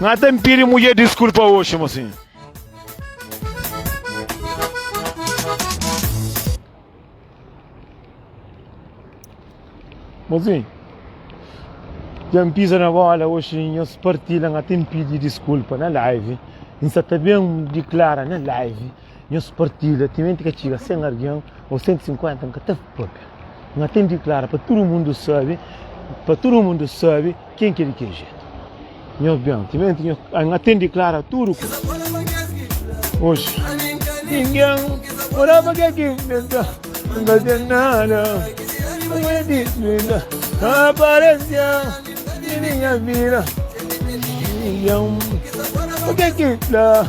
Nga ta n pidi mudjer diskulpa oxi mo sin. Mo sin. Dja n pisa na bola oxi nhos partilha nga ta n pidi diskulpa na live. N sa ta ben diklara na live. Nhos partilha, timenti ka txiga 100 argen ou 150 nka ta papia. Nha ten diklara pa tudu mundu sabi, pa tudu mundu sabi ken ki é di kel jetu. Nhos ben, timenti nhos, nha ten diklara tudu kuza. Oxi, ningen ora pa kel ki nka, nka ten nada. Como é de vida, aparecia em minha vida. Milhão, o que é que dá?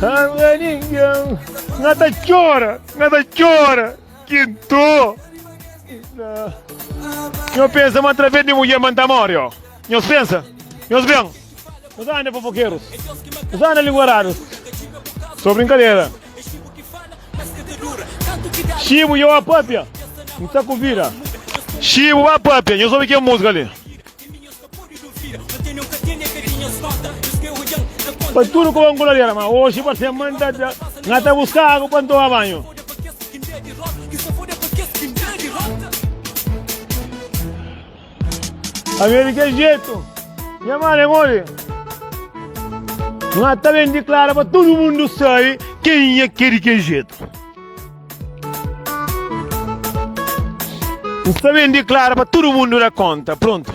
Anganingan, nga ta chora, nga ta chora, kinto. Nho pensa ma através de mulher man ta morre, ó. Nho pensa, nho bem. Nós anda fofoqueiros, nós anda linguarados. Só brincadeira. Chibo, eu a papia, não tá com vira. Chibo, a papia, eu soube que é música ali. Pa tudu ku ban gulaliera ma oxi pa se man ta da nga ta buska agu pa n toma banhu. Pa mi e di kel jetu nha mala e modi nga ta ben diklara pa tudu mundu sabi kenha ki e di kel jetu. N sta ben diklara pa tudu mundu da konta. Prontu.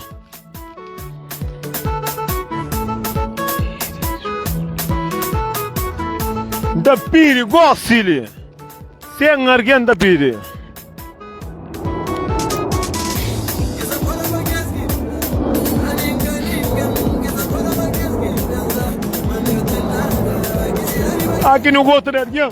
N ta pidi gosili sen argen ta pidi. Aki nu gosta de argen.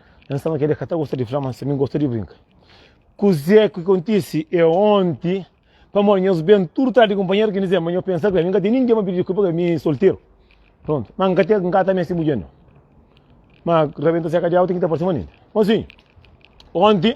N staba kede ka ta gosta di fla, mas tanbê N gosta di brinka. Kuzê ki kontise é onti, pamodi nhos ben tudu trás di kunpanheru ki N dizê, ma nhos pensa bem, N ka ten ningen pa pidi diskulpa ka mi solteru. Prontu, ma N ka te, N ka ta meste mudjer nau. Ma rabenta seka di auti ki ta parse manenti. Mosinhu, onti,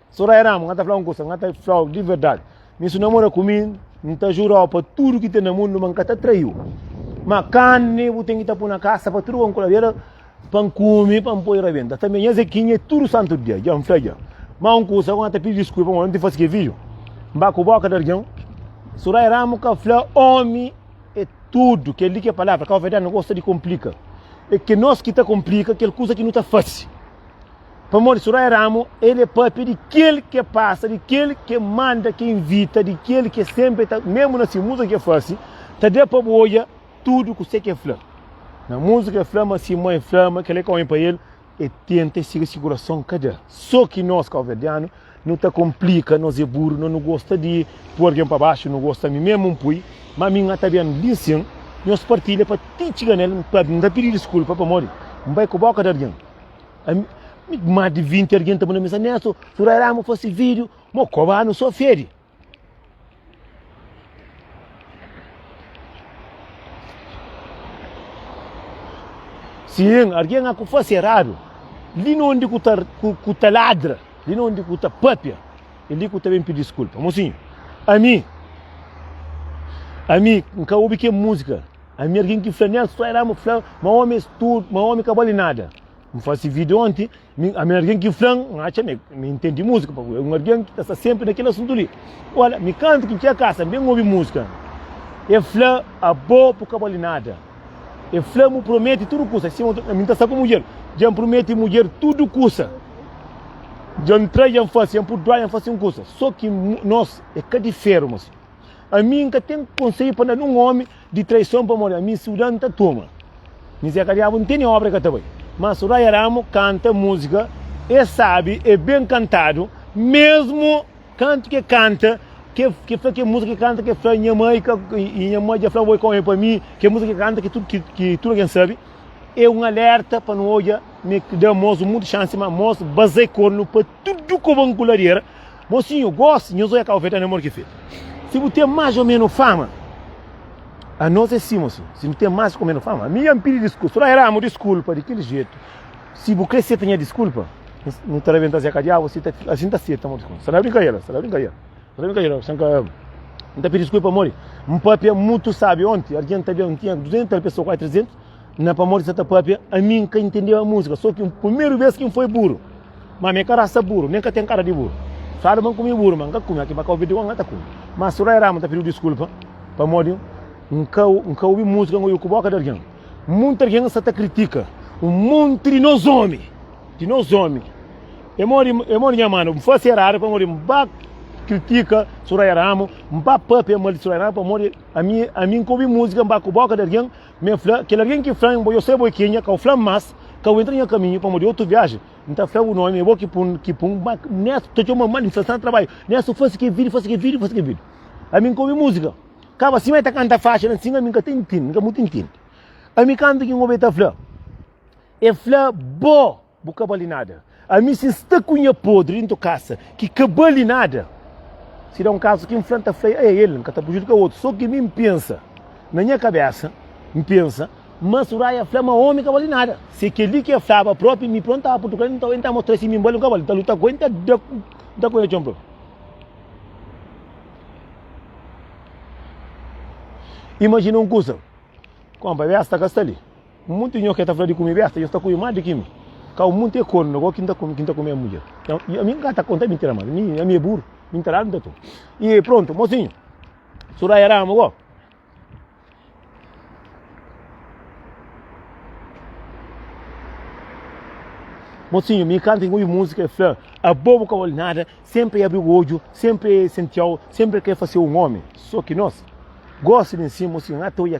Soraya Ramos, nga ta fla un kusa, nga ta flau di verdadi. Mi si no mora ku mi, mi ta jurau pa tudu ki ten na mundu ma nka ta traiu. Ma carne bu tem que tá pôr na caça para tudo com coladeira para comer para pôr rebenta também as equinha tudo santo dia já me fez já mas um curso agora tá pedindo desculpa mas não te faz que vídeo mbá com boca de alguém surai ramo que fala homem é tudo que ali que é palavra que a verdade não gosta de complica é que nós que tá complica aquele coisa que não tá fácil Pamodi si roi Ramu, el é pâpia di kel ki é pasa, di kel ki é manda, ki é invita, di kel ki é sénpri ta, mésmu na se múzika ki el fase, ta da pa bu odja tudu kusé ki el fla. Na múzika el fla ma si mãe fla ma kel-li ka omi pa el, el tenta, el siga si kurason ka da. Sô ki nos káuverdianu nu ta konplika, nos é buru, nos nu gosta di pui algen pa baxu, nu gosta, ami mésmu N pui, má ami N ta ben li nsin, nhos partilha pa ti txiga na el, N ta pidi diskulpa pamodi N bai ku bóka di algen. Má di 20 argen ta manda mensagem, Neto, surará mo fase vídeo, mo koba anu só fede. Sim, alguém a faz errado. Li não onde que tá, que tá ladra, li não onde que tá papia, ele que também pede desculpa. Mocinho, a mim, a mim, nunca ouvi que música. Ami alguém ki fla Nelson só era mo fla ma homem és tudo, ma homem ka bole nada. Me faci vídeo ontem, ami alguém ki fla, acha me, me entende música, porque é um alguém que está sempre naquele assunto ali. Olha, me canta que tinha casa, bem ouve música. É fla a bo por ka bole nada. É fla me promete tudo coisa, assim, me está com mulher, já me promete mulher tudo coisa. Já me trai, já me faz, já me por doar, já me faz coisa. Só que nós é cá de ferro, mas a mim nunca tem conselho para dar um homem Di traison pamodi ami suda n ta toma Mizé ka diabu n tene obra ka ta bai Má Soraya Ramo kanta múzika e sabe e ben kantadu Mesmu kantu ke kanta ke ke fla ke múzika ke kanta ke fla nha mai ka i nha mai dja fla oi kome pa mi ke múzika ke kanta ke tudu ki ki tudu algen sabe e un alerta pa nu odja me da mos mundu xansi ma mos bazei kornu pa tudu ku ban kuladera. Mosinhu, gosi, nhos oia ka ofeta na mor ki fetu. Si bu ten más o menu fama, a nos é si, mosinhu. Si nu ten más o menu fama, ami ya n pidi diskulpa. Sodai Ramu, diskulpa di kel jetu. Si bu kre seta nha diskulpa, nu ta rabenta-s ya ka diabu, asi ta fika. Asi n ta seta mo diskulpa. Sta na brinka ela, sta na brinka ela. Sta na brinka ela, sanka. N ta pidi diskulpa, amor. N papia mutu sabi onti. Argenti ta ben, n tinha 200 pesoa, kuazi 300. Na pamodi sa ta papia, ami n ka intendeba músika, só ki un primeru bês ki n foi buru. Má ami é ka rasa buru, nen ka ten kara di buru. Fadu ma n kume buru, má n ka kume, aki ba ka obi di Juan, N ta kume. Má Surá y Rama ta pidi-u diskulpa pamodi N ka N ka obi músika N oiu ku bóka di algen. Monti algen sta ta kritika un monti di nos ómi, di nos ómi. É modi, é modi nha manu, N fase eradu pamodi N ba kritika Surá y Rama, N ba papia mal di Surá y Rama pamodi ami, ami n ka obi músika N ba ku bóka di algen, M'en fla, kel algen ki fla-m bo, yo sai bo i kenha, ka u fla-m más, ka u entra na nha kaminhu, pamodi otu viaji, N ta fla-u nomi, é bo ki pun, ki pun, má N es, ta txoma mal, N fla-s, Sta na trabadju, N es, u fase ki vídiu, fase ki vídiu, fase ki vídiu. Ami N ka obi múzika, kaba si ma e ta kanta faxi la, ansin ami N ka ta intende, N ka mô ta intende. Ami kantu ki N obi el ta fla, e fla bo. Bu ka bali nada. Ami si N sta ku nha podri dentu kasa ki ka bali nada, si da un kazu ki N fla N ta fla-i, ae el, N ka ta prujudika otu. So ki mi N pensa, na nha kabesa, N pensa, ma Suraia fla ma omi ka bali nada. Si é kel-li ki el flaba propi, mi prontu N tava prontu ku el, nton el N ta mostra-i si mi N bali o N ka bali. N ta luta ku el, N ta da ku el na txon propi. Imajina un kusa, Konpa, Vesta ka sta li. Monti nho ke ta fla di kume besta, nhos ta kume más di ki mi. Kau monti e kornu agora ki N ta kume, ki N ta kume mudjer. Nhos, ami N ka ta konta mintira más, ami, ami e buru, mintira anu ta toma. I prontu, mosinhu, surai e ramu go. Mosinhu, mi kanta i obi musika e fla, abo bu ka bole nada, senpri e abri bu odju, senpri e sentiau, senpri e kre fasiau un omi, so ki nos. Gosi mi nsin, mosinhu, N ka ta odja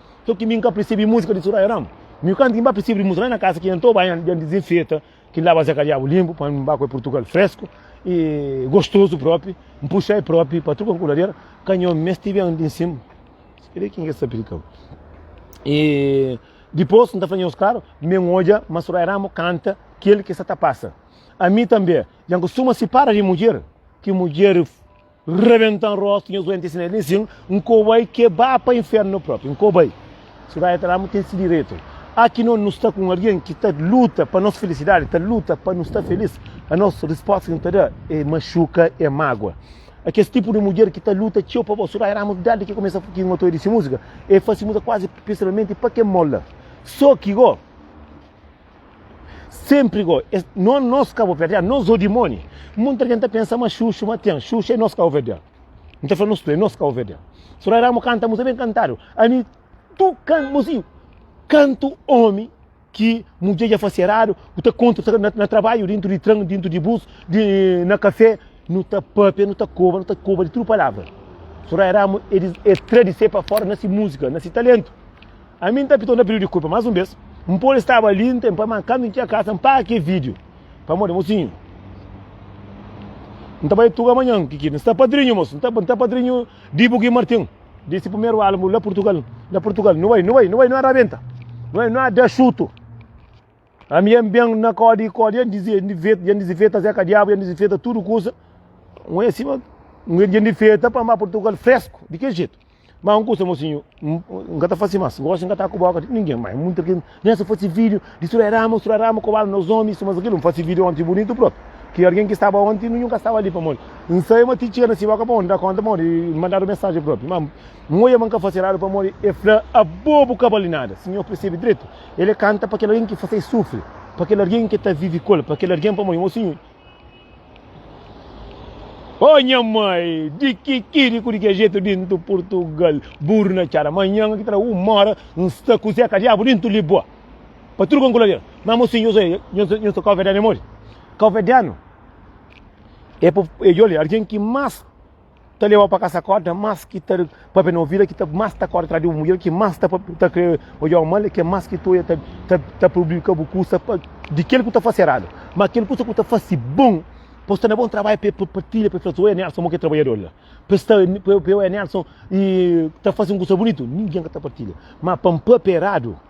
Só ki mi nka persebi músika di Soraya Ramo. Mi kantu ki ba persebi di músika lá na kasa ki anto ba yan dizinfeta ki lá ba zeka diabu limpu pa ba koi Portugal fresku e gostosu propi, mpuxa e propi pa truka kuladera ka nho mesti ben di nsim. Ele ki nge sabi ka. E depois nta fala nho skaro, men oja ma Soraya Ramo kanta kel ki sa ta pasa. A mi tambe, jan ku suma si para di mudjer, ki mudjer Rebentan rostu nhos duenti siné nin sin nko bai ke ba pa infernu propi nko bai si bai ata la mu ten si diretu a ki no nu sta ku un algen ki ta luta pa nos filisidadi ta luta pa nu sta felis a nos risposta ki nu ta da e maxuka e magua a kes tipu di mudjer ki ta luta txeu pa bo surai ramus dadi ki kumesa ki ngo ta oidi si musika e fasi musika kuazi pisilmenti pa ke mola so ki go. Senpri go, es, no, nos kabuverdianu, nos o dimoni. Monti algen ta pensa ma Xuxu, ma ten, Xuxu é nos kabuverdianu. N ta fla nos tudu, é nos kabuverdianu. So la ramu kanta musa ben kantadu. Ami, tu kan, mozinhu, kantu omi ki mudjer dja fase eradu, ku ta kontu ta, na, na trabalhu, dintu di tran, dintu di bus, di, na kafé, nu ta papia, nu ta koba, nu ta koba di tudu palavra. So la ramu, elis, es tra di se pa fora na si muzika, na si talentu. Ami N ta pidi-u, N ta pidi-u dikulpa más un bes, N pode staba li, N ten pa, má kantu N txiga kasa N paga kel vídiu pamodi mosinhu N ta bai tuga manhan ki ki N sta padrinhu, mosu, N ta, N ta padrinhu di bu ki Martin di si primeru álbu la Purtugal, la Purtugal Nu bai, nu bai, nu bai, nu a rabenta, nu bai, nu a da xutu. Ami N ben na kóde i kóde, i N dizifeta Zé Kadiabu, i N dizifeta tudu kusa. Un é sima, un é dizifeta pa N ba Portugal fresku, di ki jetu? Má un kusa, mosinhu, N ka ta fase más, gósi N ka ta kuboka di ningen más. Munti ki N kumesa fase vídiu, distrói rama, distrói rama, kobadu nos ómi, i suma di kil. N fase vídiu ónti bunitu própi, ki algen ki staba ónti nunhu ka staba li pamodi N sai, ma ti N txiga na si bóka pamodi N da kónta, pamodi N mandadu mensajen própi. Má N odja ma N ka fase eradu pamodi el fla, Abo bu ka bali nada, sinhor persebe dretu. El é kanta pa kel algen ki fase-i sufri, pa kel algen ki ta vive ku el, pa kel algen pamodi mo Sinhor. Ô oh, nha mai, di ki ki di ku di ki jeito dintu Portugal, burro na txada, manhã ki tra uma hora, um sta ku Zeca Diabo dintu Lisboa. Pa tudo com colorido. Mas mo Sinhor, eu sou calvediano, é mole. Calvediano é, é olha, alguém que mais ta leva pa kasa korda mas ki ta papia na ouvida ki ta mas ta korda atrás di bu mulher ki mas ta ta kre odjau mal ki mas ki tu ta ta ta publika bu kusa pa di kel ku ta fase eradu ma kel kusa ku ta fase bom pa sta na bom trabalho pe pa partilha pe fla oe Nelson mo ke trabalhador la pe sta pe oe Nelson e ta fase un kusa bunitu ninguém ka ta partilha ma pa papia eradu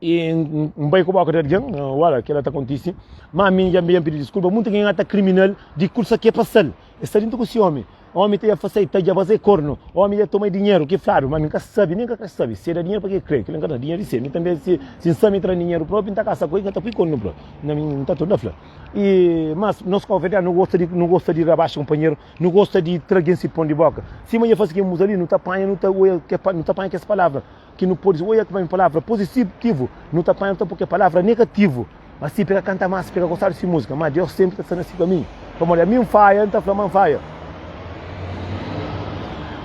e n bai ku boka di algen wala kela ta kontisi ma mi ja mi pidi diskulpa mutu algen ata kriminal di kursa ke pasal e sta dintu ku si omi omi ta ja fasai ta ja fasai kornu omi ja toma dinheru ki fladu ma mi ka sabi mi ka kre sabi si e da dinheru pa ke kre kila ka da dinheru di si mi tambi si si sa mi tra dinheru propi n ta kasa ku el n ta pui kornu propi na mi n ta torna fla e mas nos kau verdadi no gosta di no gosta di rabaxa kunpanheru no gosta di tra algen si pon di boka sima ja fasi ke muza li no ta panha no ta oia no ta panha kes palavra ki nu pode oia ki bai un palavra positivo, nu ta panha ta pô kel palavra negativo. Asi pe ka kanta más, pe ka gosta di si múzika, má Deus sénpri ta sta na si kaminhu. Pamodi ami N faia, N ta fla ma N faia.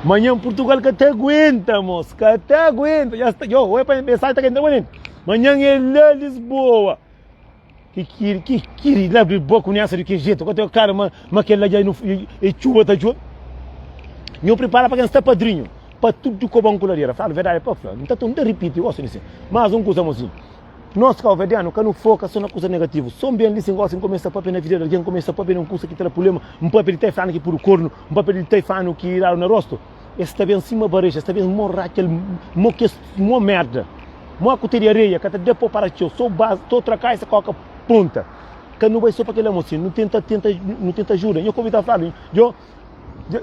Manhan Purtugal ka ta aguenta, mos, ka ta aguenta. Ya sta, yo, oia pa mesájen ta ka entra bô nel. Manhan é la Lisboa. Ki kiri, ki kiri, la bri boka un esa di ki jeito, ka teu claro ma, ma kel la dja e txuba ta djobe. Nhu pripara pa ken sta padrinho, pa tudo ko bon ku ladera. Fala verdade pa fla, nta tun ta ripiti, gosta di si. Mas un kusa amozinho, nos kauverdiano ka nu foka so na kusa negativo, so nben li si ngosi nkomi sta papia na vida di algin, nkomi sta papia di un kusa ki tra pulema, npapia di ta e flanu ki pudu kornu, npapia di ta e flanu ki dadu na rosto. Es sta ben sima barexa, es sta ben mó ra kel mó kes mó merda. Mó ku teri areia, ka ta dê pô para txeu, só bas, tô traká essa kóka punta. Ka nu bai só pa kel amor si, nu tenta, tenta, nu tenta ajuda. Nha komita fla mi, djo,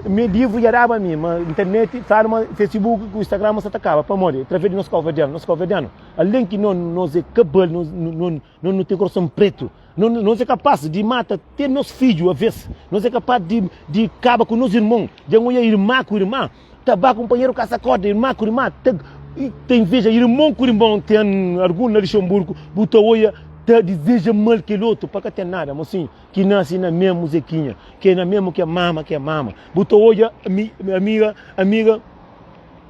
mi livru dja daba mi, ma internet fla ma facebook ku instagram ma sa ta kaba. Pamodi? Través di nos kau-verdianu. Nos kau-verdianu, alen ki no, nos é ka bal, no. Nos nu ten korason pretu. Nos é kapas di mata te nos fidju avês. Nos é kapas di kaba ku nos irmon. Dja N oia irma ku irma ta ba kunpanheru kasa korda, irma ku irma ta ta inveja, irmon ku irmon. Ten algun na Luxemburgu bu ta oia ta dizeja mal kel otu pa ka ten nada. Mosinhu ki nase na memu zekinha, ke na memu ke mama, ke mama. Bu ta oia ami, amiga, amiga.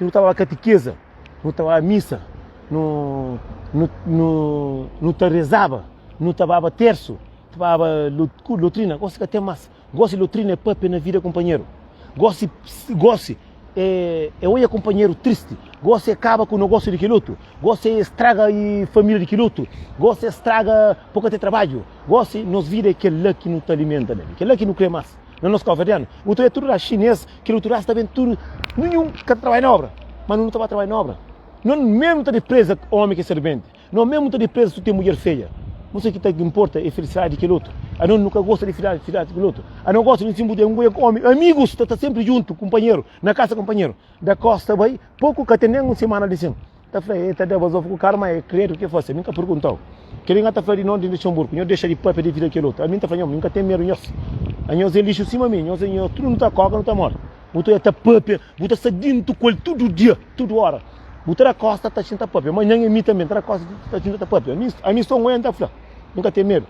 Nu ta ba katikeza, nu ta ba misa, nu, nu, nu, nu ta rezaba, nu ta baba tersu, ta baba lotrina, gosi ka ten mas. Gosi lotrina é pâpia na vida kunpanheru. Gosi, gosi é, é oja kunpanheru tristi, gosi é kaba ku nogósiu di kelotu, gosi é straga e família di kelotu, gosi é straga pa bu ka ten trabadju, gosi, nos vida é kel-la ki nu ta alimenta na, kel-la ki nu krê mas. na nos kova dianu. Utu é tudo da chinês, que utu raça também tudo, nenhum que trabalha na obra, mas não trabalha trabalha na obra. Não mesmo tá de presa homem que é servente, não mesmo tá de presa tu tem mulher feia. Não sei que tá que importa é felicidade que outro. A não nunca gosta de felicidade, felicidade que outro. A não gosta de se mudar um homem, amigos tá, tá sempre junto, companheiro, na casa companheiro. Da costa vai, pouco que tem nem uma semana de sim. Ta fla e ta deba zofa ku karu ma e kredu ke fase. Nunka perguntau. Kede nga ta fla di non di Luxemburgo. Nhos dexa di papia di vida kel otu. Ami nta fla nhos, mi nka ten medu nhos. Anhos e lixu sima mi. Nhos e nhos tudu nu ta koka, nu ta mori. Bu ta ta papia, bu ta sta dintu ku el tudu dia, tudu ora. Bu ta da kosta ta xinta papia. Manhan e mi tanbe nta da kosta ta xinta ta papia. Ami, ami son un e nta fla. Nunka ten medu.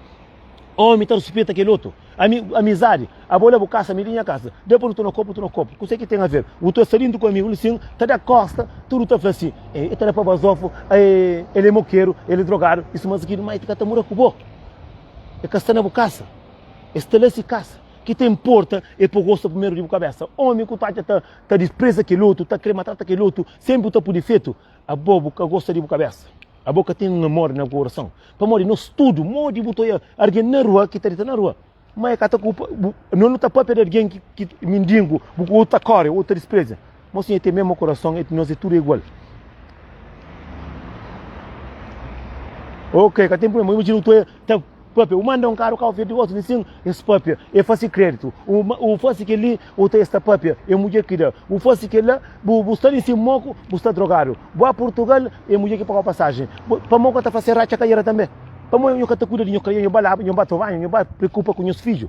Omi ta respeita kel otu. Ami, amizadi, abo la bu kasa, ami li nha kasa. Deu pa nu tuna kopu, tuna kopu. Kuse ki ten a ver? Otu a salindo ku amigu li sin, ta da kosta, tudu ta fla si, e, e ta da pa bazofu, e, el e mokeru, el e drogadu, e suma zigidu. Mai ti ka ta mura ku bo. E ka sta na bu kasa. E sta la si kasa. Ki ta importa e po gosta primeru di bu kabesa. Omi ku ta atxa ta, ta dispreza kel otu, ta kre matrata kel otu, senpri bu ta pudi fetu. Abo bu ka gosta di bu kabésa? Abo ka ten un amor na bu korason? Pamodi nos tudu, modi bu ta oia algen na rua ki ta dita na rua, ma e ka ta kulpa bu, nos nu ta pâpia di algen ki ki mindingu, bu otu ta kóre, otu ta dispreza. Mo sim e ten mésmu korason, nos é tudu é igual. Ok, ka ten prubléma, imajina bu ta oia ta papia. U manda un karu kau fia di otu visin, es papia. E fasi kreditu. U, u fasi keli, u ta es ta papia. E mudje ki da. U fasi kela, bu, bu sta nisin moku, bu sta drogadu. Bu a Purtugal, e mudje ki paga-u pasajen. Pamo ka ta fase ratxa ka ira tambe? Pamo nho ka ta kuida di nho kria, nho ba laba, nho ba trabadja, nho ba preokupa ku nhos fidju?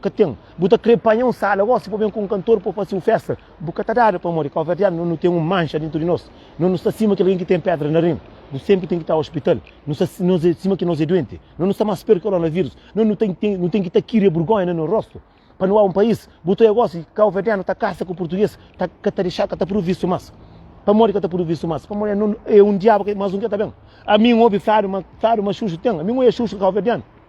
Ka ten. Bu ta kre panha un sala gosi pa ben ku un kantor pa fase un festa. Bu ka ta dada pamodi kauverdianu no nu ten un manxa dentru di nos. No nu sta sima ki algen ki ten pedra na rin. Bu senpri ten ki ta ospital. No sta sima ki nos e duenti. No nu sta mas pior ki koronavírus. No nu ten ten nu ten ki ta kiri e burgonha na no rostu. Pa nu a un pais. Bu ta oia gosi kauverdianu ta kasa ku purtuges ta ka ta dexa ka ta pruvisu mas. Pamodi ka ta pruvisu mas? Pamodi e no e un diabu mas un ke ta ben. Ami n obi fladu ma fladu ma xuxu ten. Ami n oia xuxu kauverdianu.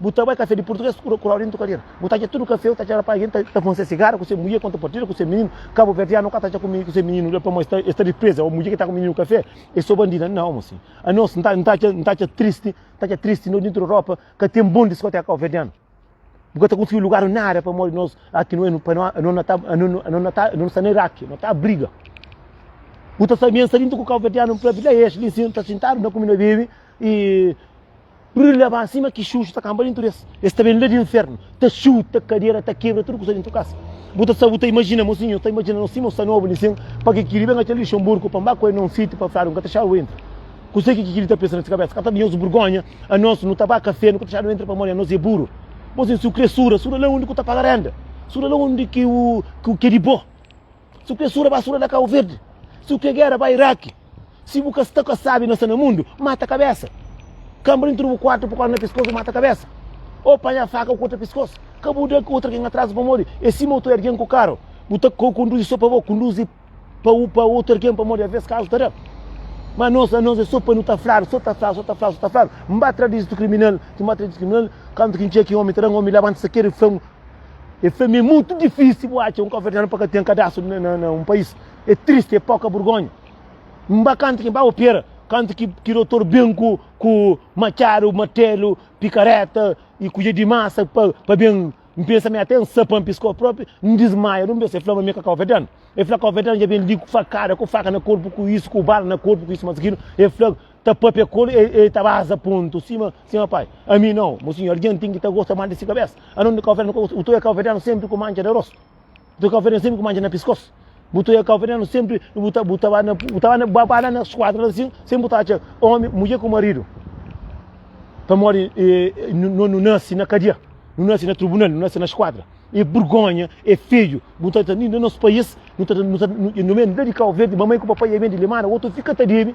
Bu ta bai kafé di purtuges ku ku Laurindo Calheira. Bu ta atxa tudu kafé, eu ta atxa rapaz, gente ta konse sigara ku se mulher quando partida ku se menino. Cabo Verdeano ka ta atxa ku ku se menino la pamo esta esta represa o mulher ki ta ku menino kafé e so bandida. Não, moço. A nós não tá não tá não tá triste, tá triste no dentro Europa, ka tem bom discoteca Cabo Verdeano. Porque tá conseguiu lugar nada para morrer nós aqui não é para nós não não tá não não não tá não está nem Iraque, não tá briga. O tá sabendo saindo com o Cabo Verdeano para vir lá é, ele ensina tá sentado na comida baby e Brilha ba sima ki xuxu ta kanba dintu des. Es ta ben la di infernu, ta xuta kadera, ta kebra tudu kusa dintu kasa. Bu ta sa, bu ta imajina, mosinhu, nhos ta imajina nos sima un sa nobu li sin, pa ki ki li ben atxa Luxemburgu pa mba ku el na un sitiu pa fladu, N ka ta xadu entra. Kuse ki ki ki li ta pensa na si kabesa? Ka ta di nhos burgonha? Anos nu ta ba kafé, nu ka ta xadu entra pamodi anos e buru. Mosinhu, si u kre suda, suda la undi ku ta paga renda, suda la undi ki u, ki u ke di bo. Si bu ke sura basura na Cabo Verde, si bu ke guerra ba Iraqui, si bu ka sta ka sabi na sta na mundo, mata cabeça. Cambra intro bu quarto pu corda na pescoço mata cabeça. Ou panha faca ou corta pescoço. Ka bu da outra alguém atrás pa morri. E si moto é alguém ku carro, bu ta ka conduzi só pa bo, conduzi pa u pa outro alguém pa morri a vez caso ta da. Ma nos la nos é só pa nu ta fladu, só ta fladu, só ta fladu, só ta fladu. Mba tradizi tu criminal, ti mba tradizi criminal, kantu ki ntxê ki homem ta da, homem labanta sa kere flan. É fla-m, é mutu difísil bu atxa un cabo-verdiano pa ka ten cadastru na un país. É tristi, é poka burgonha. N ba kantu ki N ba opera, kantu ki, ki dotor ben ku, ku matxadu, matelu, pikareta y kudjer di masa pa, pa ben, N pensa mi até N sa pa N piskó propi, N dismaia dun bes. É fla-m ma mi ka cabo-verdiano. É fla cabo-verdiano dja ben li ku fakada, ku faka na korpu, ku isu, ku bala na korpu, ku isu mas kilo. É fla. ta papia kolo e ta baza ponto sima sima pai ami não mo senhor alguém tem que ta gosta mal de si cabeça a não de cabo verde o tu é cabo verdeano sempre com mancha de rosto o tu é cabo verdeano sempre com mancha na pescoço o tu é cabo verdeano sempre o ta o tava na o tava na babala na esquadra assim sempre tá tinha homem mulher com marido para morrer não não nasce na cadeia não nasce na tribunal não nasce na esquadra é vergonha é feio não tá no nosso país não tá não tá não é de cabo verde mamãe com papai é bem de limana o outro fica tá dele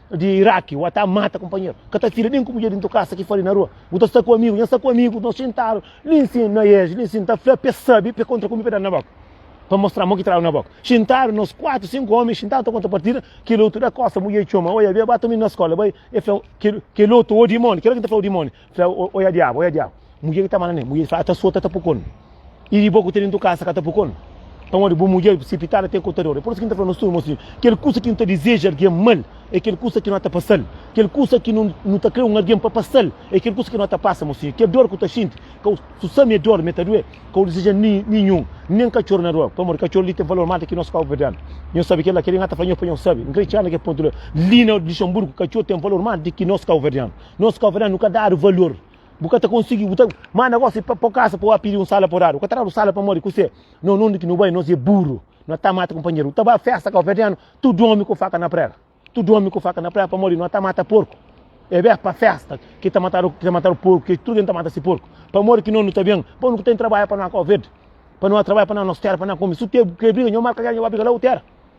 di Iraki, wa ta mata companheiro, ka ta fila nem ku mulher dentro casa ki fali na rua, bu ta sta ku amigo, nha sta ku amigo, nos sentado li nsin na eje li nsin ta fla pe sabi pe contra ku mi pe dal na boca pa mostra mo ki traba na boca, sentado nos quatro cinco homens sentado ta conta partida, kel oto da costa mulher txoma, oia bia ba ta mi na escola bai, e fla kel oto o dimoni, kel la ki ta fla o dimoni, Fla, oia diabu, oia diabu. Mudjer ki ta manda ne, mudjer fla, ta sota ta pukon. E riba ku ta dentro kasa ka ta pukon. Pamodi bu mudjer presipitada te kotador. E por isso ki ta fla nos tudo, moço, kel kusa ki nu ta deseja alguém mal, é kel kusa ki no ta pasal. Kel kusa ki nu nu ta kre um alguém pa pasal, é kel kusa ki no ta pasa, moço. Kel dor ku ta xinti, kau su sa me dor me ta due, kau deseja ni ninhun, nem katxor na rua, pamodi katxor li tem valor mal di ki nos pau perdendo. Nho sabi kel la, kel li nga ta fla nho pa nho sabi, n kre txela na kel ponto la, li na Luxemburgo katxor tem valor mal di ki nos kau verdiano. Nos ka vrá, nu ka dadu valor. Bu ka ta konsigi, bu ta manda gosi pa pa kasa pa wá pidi un sala pa dadu. Ka tradu sala pa modi kusé. No nunde ki nu bai, nos é buru. No ta mata kumpanheru. Ta ba festa ka verdiano, tudu omi ku faka na prega. Tudu omi ku faka na prega pa modi no ta mata porku. É beh pa festa ki ta matadu, ki ta matadu porku, ki tudu ken ta mata si porku. Pa modi ki no nu ta ben, pa nu ku ten trabaya pa no ka verde. Pa no trabaya pa no nos tera pa no kome. Su te ke briga, nho marka gera, nho ba briga la u tera.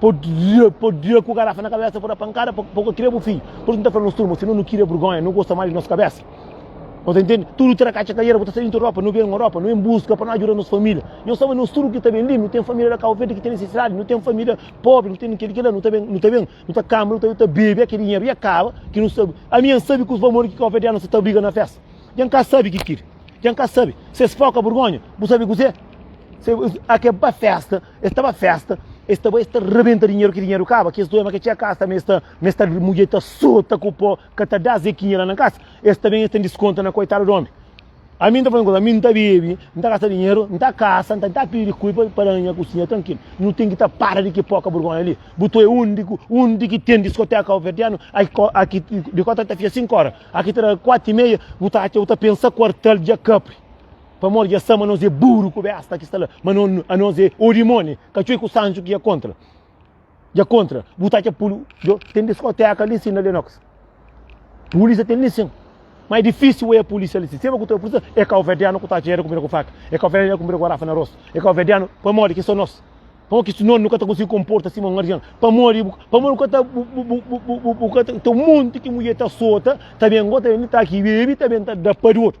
Pô dia, pô dia ku garafa na kabésa pô da pankada pa pô ka kirê bu fidju. Pô nu ta fla nos turma si nu nu kirê burgonha nu gosta más di nos kabésa. Nu ta intende tudu tra katxa kaiera bu ta sai intru ropa nu ben ropa nu ben buska pa nu ajuda nos família. Nhos sabe nos tudu ki ta ben li nu ten família da Kau Verdi ki ten nisisidadi nu ten família pobri nu ten kel-li kel-la nu ta ben nu ta ben nu ta kama nu ta ta bebe kel dinheru ya kaba ki nu sabe ami N sabe ki os bamodi ki kauverdianu sta ta briga na festa dja N ka sabe ki kiri dja N ka sabe si es foka burgonha bu sabe kuzê se es a ke ba festa. Es ta ba festa, es ta ba, es ta rebenta dinheru, ki dinheru kaba, kes doia ma ka txia kasa, ma es ta, ma es ta, mudjer ta sota ku po, ka ta da zekinha la na kasa, es ta ben, es ta diskonta na koitadu di omi. Ami nta fazê un koza, ami nta bebe, nta gasta dinheru, nta kasa, nta nta pidi kui pa, pa da nha kusinha trankil. Nu ten ki ta para di ki poka burgonha li. Bu toi undi, undi ki ten diskoteka kabuverdianu, aki dikota ta fia 5 ora, aki ta da 4 y meia, bu ta atxa, bu ta pensa kuartel dja kapri. Pamodi dja sa ma nos é buru ku besta ki sta la, ma no, a nos é o dimoni, ka txeu ku sanju ki é kontra. Dja kontra, bu ta txa pulu, djo, ten diskoteka li nsin na Lenox. Pulisa ten li nsin. Mas é difícil oia polícia ali. Sempre que tu polícia, é calverdiano que está dinheiro comigo com faca. É calverdiano comigo com garrafa na rosto. É calverdiano, para morrer, que são nós. Para morrer, que senão nunca tá conseguindo comporta assim, um guardião. Para morrer, para morrer, que tá, o que tá, tem um monte que mulher tá solta, também agora também tá aqui, bebe, também tá da para o outro.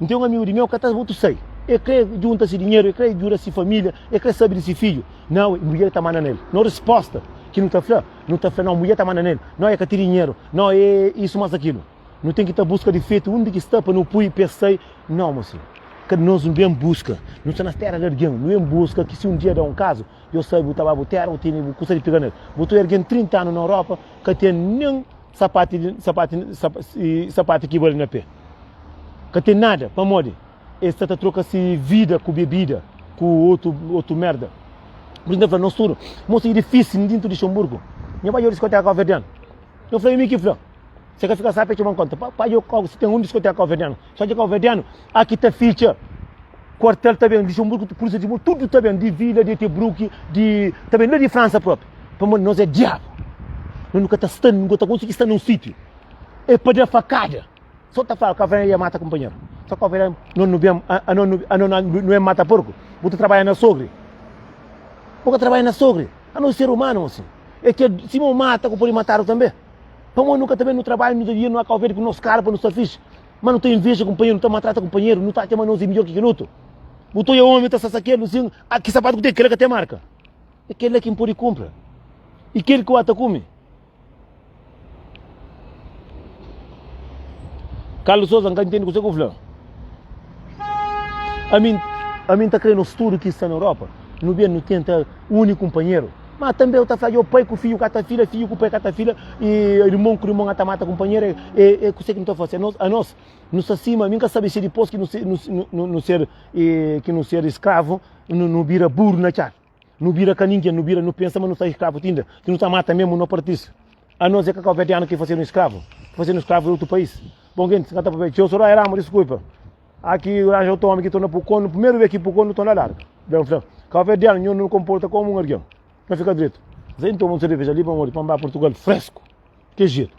N ten un amigu di meu ka ta botu sai. El kre junta si dinheru, el kre juda si familia, el kre sabi di si fidju. Nau e mudjer ta manda nel. Nau resposta ki nu ta fla, nu ta fla nau mudjer ta manda nel, nau e ka ti dinheru, nau e isu mas akilu. Nu ten ki ta buska difetu undi ki sta pa nu pui pa es sai. Nau mo si ka nos nu ben buska, nu sta na tera di algen, nu ben buska ki si un dia da un kazu, yo sabi bu ta ba bu tera, bu tene bu kusa di piga nel. Bu ta oi algen 30 anu na Europa ka ten nen. Sapati di sapati sapati ki bali na pé. Ka ten nada, pamodi es sta ta troka si vida ku bebida, ku otu otu merda. Pur isu, N ta fla nos tudu, mosa i difisi N dintu di Xamburgu, nha bai obi diskoteka kauverdianu. Yo fla, i mi ki fla? Se ka fika sapi, e txoba-m konta. Pa, pa djo, si ten un diskoteka kauverdianu. Só dja kau vedenu, aki ta fitxa Kuartel ta ben, Luxemburgo, Polícia de Muro, tudo ta ben, de Vila, de Etebruck, de, ta ben lá de França próprio. Pamodi nós é diabo. Nós nunca ta sta, nunca ta conseguir sta num sítio. É para dar facada. Só ta fala, Cavaleiro ia mata companheiro. Só Cavaleiro, não não bem, a não não é mata porco. Você trabalha na sogre. Você trabalha na sogre. A não ser humano assim. É que se não mata, você pode matar também. Pamodi nu ka ta ben nu trabadju, nu ta dia, nu a kau vede ku nos kara pa nu sta fixi. Má nu ta inveja kunpanheru, nu ta maltrata kunpanheru, nu ta atxa ma nos é midjór ki kel otu. Bu ta odja ómi, bu ta sasa kel, bu dizi, A, ki sapatu ku ten, kel-la ka ten marka. É kel-la ki N pode kunpra. I kel ki N ta kume. Carlos Souza, N ka intende kuzê ki bu fla. Ami, ami N ta krê nos tudu ki sta na Europa, nu ben, nu tenta uni kunpanheru. Má tanbê el ta fla, Dja pai ku fidju ka ta fila, fidju ku pai ka ta fila, i irmon ku irmon ka ta mata kunpanheru. É é kuzê ki nu ta fase? Anos anos nu sta sima, mi ka sabe si dipôs ki nu ser nu nu nu ser ki nu ser skravu nu nu bira buru na txada, nu bira ka ningen, nu bira nu pensa ma nu sta skravu ti inda, ti nu ta mata mesmu no partise. Anos é ka káuberdianu ki fasedu skravu, ki fasedu skravu di otu país. Bon, gentis, N ka ta papia, Txeu Soraya Ramos, diskulpa. Aki nu ranja otu omi ki torna pu konu, primeru bes ki pu konu, nu torna larga. Ben fla, kau fé di anhu, nu konporta komu un argen. Na fika dretu. Zen toma un sereveza li pamodi pa N ba Portugal fresku. Ke jetu.